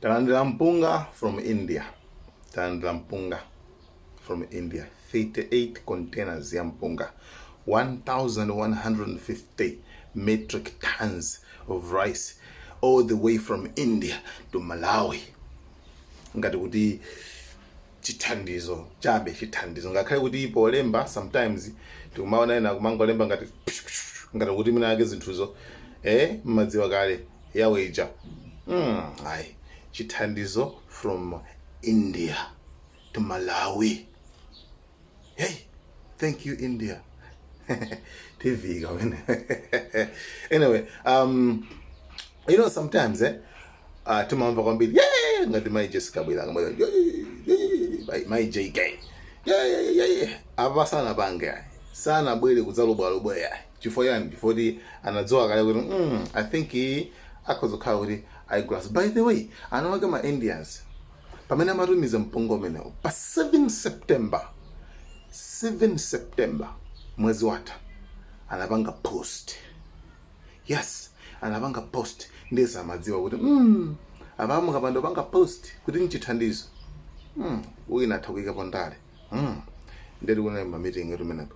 talandira mpunga from india talandira mpunga from india 38 containers ya mpunga 1150 metric tons of rice all the way from india to malawi ngati kuti chithandizo chabe chithandizo ngakhale kuti polemba sometimes tikumaona ena kumangolemba ngati ngati kuti mwina wake zinthuzo eh mmadziwa kale yawo ija mm, ayi chithandizo from india to malawi hey thank you india tv kawene anyway um you know sometimes eh uh, timamva kwambiri "Yeah, ngati mai jessica bwilanga Mai- yeah, yeah, yeah, yeah, mai jk Yeah, yeah, yeah, yeah, yeah. apa sanapange ayi sanabwere kudzalubwalubwa ayi chifukwa yani chifukwa kuti anadziwa kale kuti mm, i think iyi akhoza kukhala kuti ayigulaso by the way ana wake ma indians pamene amatumiza mpunga umenewo pa 7 September, 7 September mwezi watha anapanga post yes anapanga post ndiye amadziwa kuti mm, apa mukapanda kupanga post kuti nchithandizo mm, uyu atha kuyikapo ndale mm. ndithu kunali mamitingi kumeneko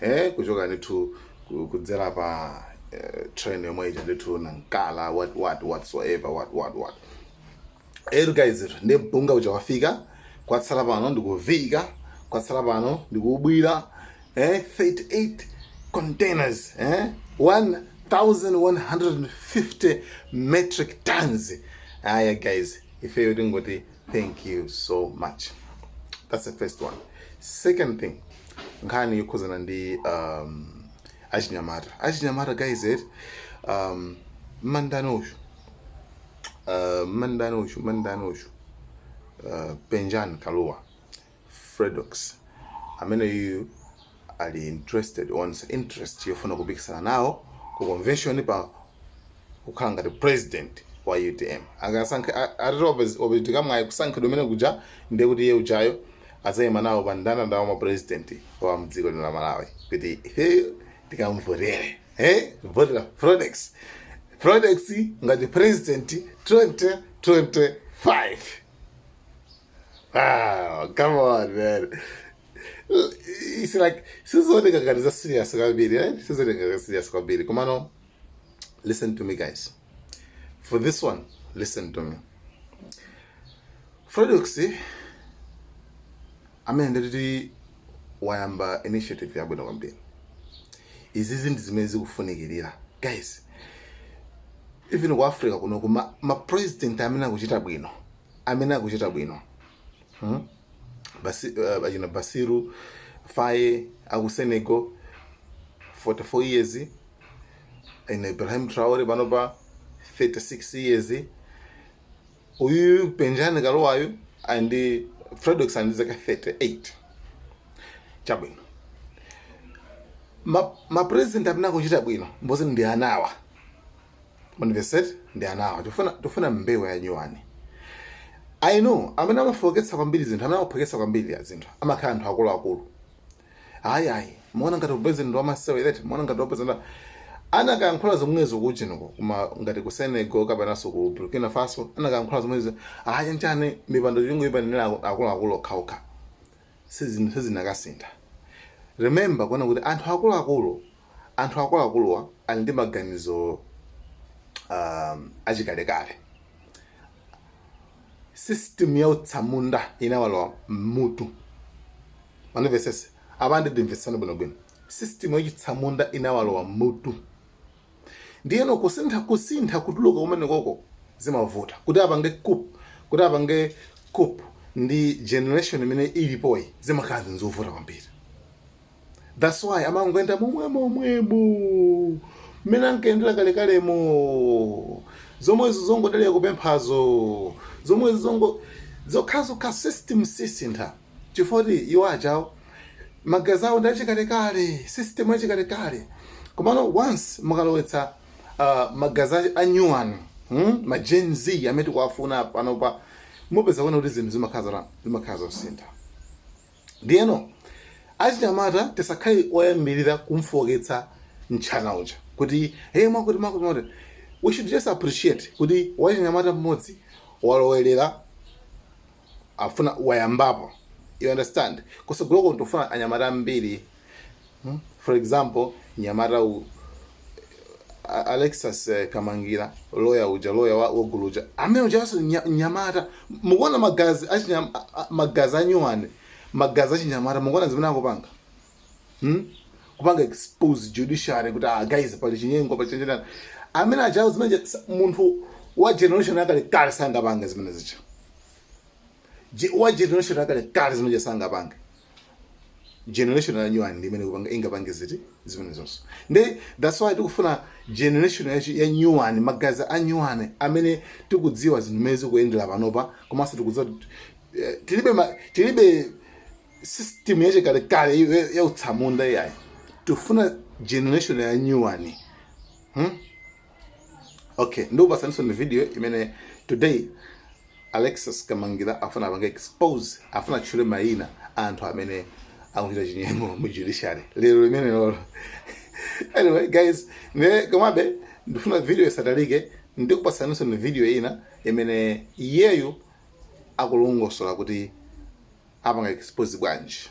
Eeh kuchoka ndithu ku- kudzera pa eh, train yomwe ija ndithu Nacala what what whatsoever what what what alright guys ndi mpunga uja wafika kwatsala pano ndi kuvika kwatsala pano ndi kuubwira eh, 38 containers eh, 1150 metric tons aya guys ifeyo tingoti thank you so much that's the first one second thing nkhani yokhuzana ndi um, achinyamata achinyamata guys eh, um, mmandani uyu uh, mmandani uyu mmandani uyu uh, penjan kaluwa Fredokiss ameneyuyu ali interested waonetsa interest yofuna kupikisana nawo ku convention pa kukhala ngati president wa utm. Akasankha atati wapezeka mwayi kusankhidwa kumene kuja ndiye kuti iye ujayo adzaima nawo pa mndandanda wa ma president wa mdziko lino la Malawi kuti ifeyo tikamvotere eh votera Fredokiss Fredokiss ngati president 2025. Wow, come on, man. It's like sizooneka ngati za serious kwambiri, eh? Sizooneka ngati serious kwambiri. Komano, listen to me guys. For this one, listen to me. Fredokiss ameneyu ndithu wayamba initiative yabwino kwambiri. Izizi ndi zimene zikufunikirira. Guys, even ku africa kuno kuma ma president amene akuchita bwino amene akuchita bwino hmm? Basi, uh, achina bassirou faye aku senegal 44 years ena ibrahim traore panopa 36 years uyu penjani kaluayu ndi fredokiss ali ndi zaka 38 chabwino mapresident ma amene akuchita bwino mbothu ndi anawa manifested ndi anawa tifuna tifuna mbewu ya nyuwani i know amene amafoketsa kwambiri zinthu amene amaphweketsa kwambiri ya zinthu amakhala anthu akuluakulu ayi ayi muona ngati president wamasewereti muona ngati president anakayankhula zomwezo kuchiniko koma ngati ku senegal kapenanso ku burkina faso anakayankhula zomwezo ayi nchani mipando chungu ipangira akuluakulu okhaokha sizinakasintha remember kuona kuti anthu akuluakulu Anthu akuluakuluwa ali ndi maganizo um, achikalekale. System ya utsamunda inawalowa mmutu. Mundimvetsetse apa ndimvetsani bwinobwino. System ya chitsamunda inawalowa mmutu. Ndiyeno kusintha kusintha kutuluka kumenekoko zimavuta kuti apange coup kuti apange coup ndi generation imene ilipoyi zimakhala zinthu zovuta kwambiri. thats why amangoenda momwemomwemo mmene ankayendera kalekalemo zomwezo zongodalira kupemphazo zomwezo zongo zokhazokha system sisintha chifukwa kuti iwo achawo magazi awo ndi achikalekale system achikalekale komano once mukalowetsa uh, magazi a- a new one hmm? ma gen z amene tikuwafuna panopa mupeza kuona kuti zinthu zimakhala zimakhala zosintha Ndiyeno achinyamata tisakhale oyambirira kumfooketsa mtchana uja kuti hey, mwakuti mwakuti mwakuti. We should just appreciate kuti wachinyamata mmodzi walowerera afuna wayambapo you understand kusogoloko tikufuna anyamata ambiri Hmm? for example nyamata u A- alexis eh, kamangira loya uja loya wa- wotchuka uja amene ujaso nya- nyamata mukuona magazi achinyam- a- a- magazi anyuwani magazi achinyamata mukuona zimene akupanga Hmm? kupanga expose judiciary kuti ah, guys pali chinyengo pali chenjerani amene achawo zimene cha- sa- munthu wa generation yakale kale sangapange zimenezija Je- wa generation yakale kale zimene sangapange generation ya new one ndi imene ikupanga- ingapange zinthu zimenezonso nde that's why tikufuna generation ya, chi- ya new one magazi a new one amene tikudziwa zinthu mmene zikuyendera panopa komanso tikudziwa kuti, eh, tilibe ma- tilibe system yachikalekale ya- ya- ya utsamunda iyayi tifuna generation ya new one hmm? okay ndikupasaninso ni video imene today alexis kamangira afuna apange expose afuna atchule mayina a anthu amene akuchita chinyengo mu judiciary lero limenelolo anyway guys ne komabe ndifuna video isatalike ndikupasaninso ni video ina imene iyeyu akulongosola kuti apanga expose bwanji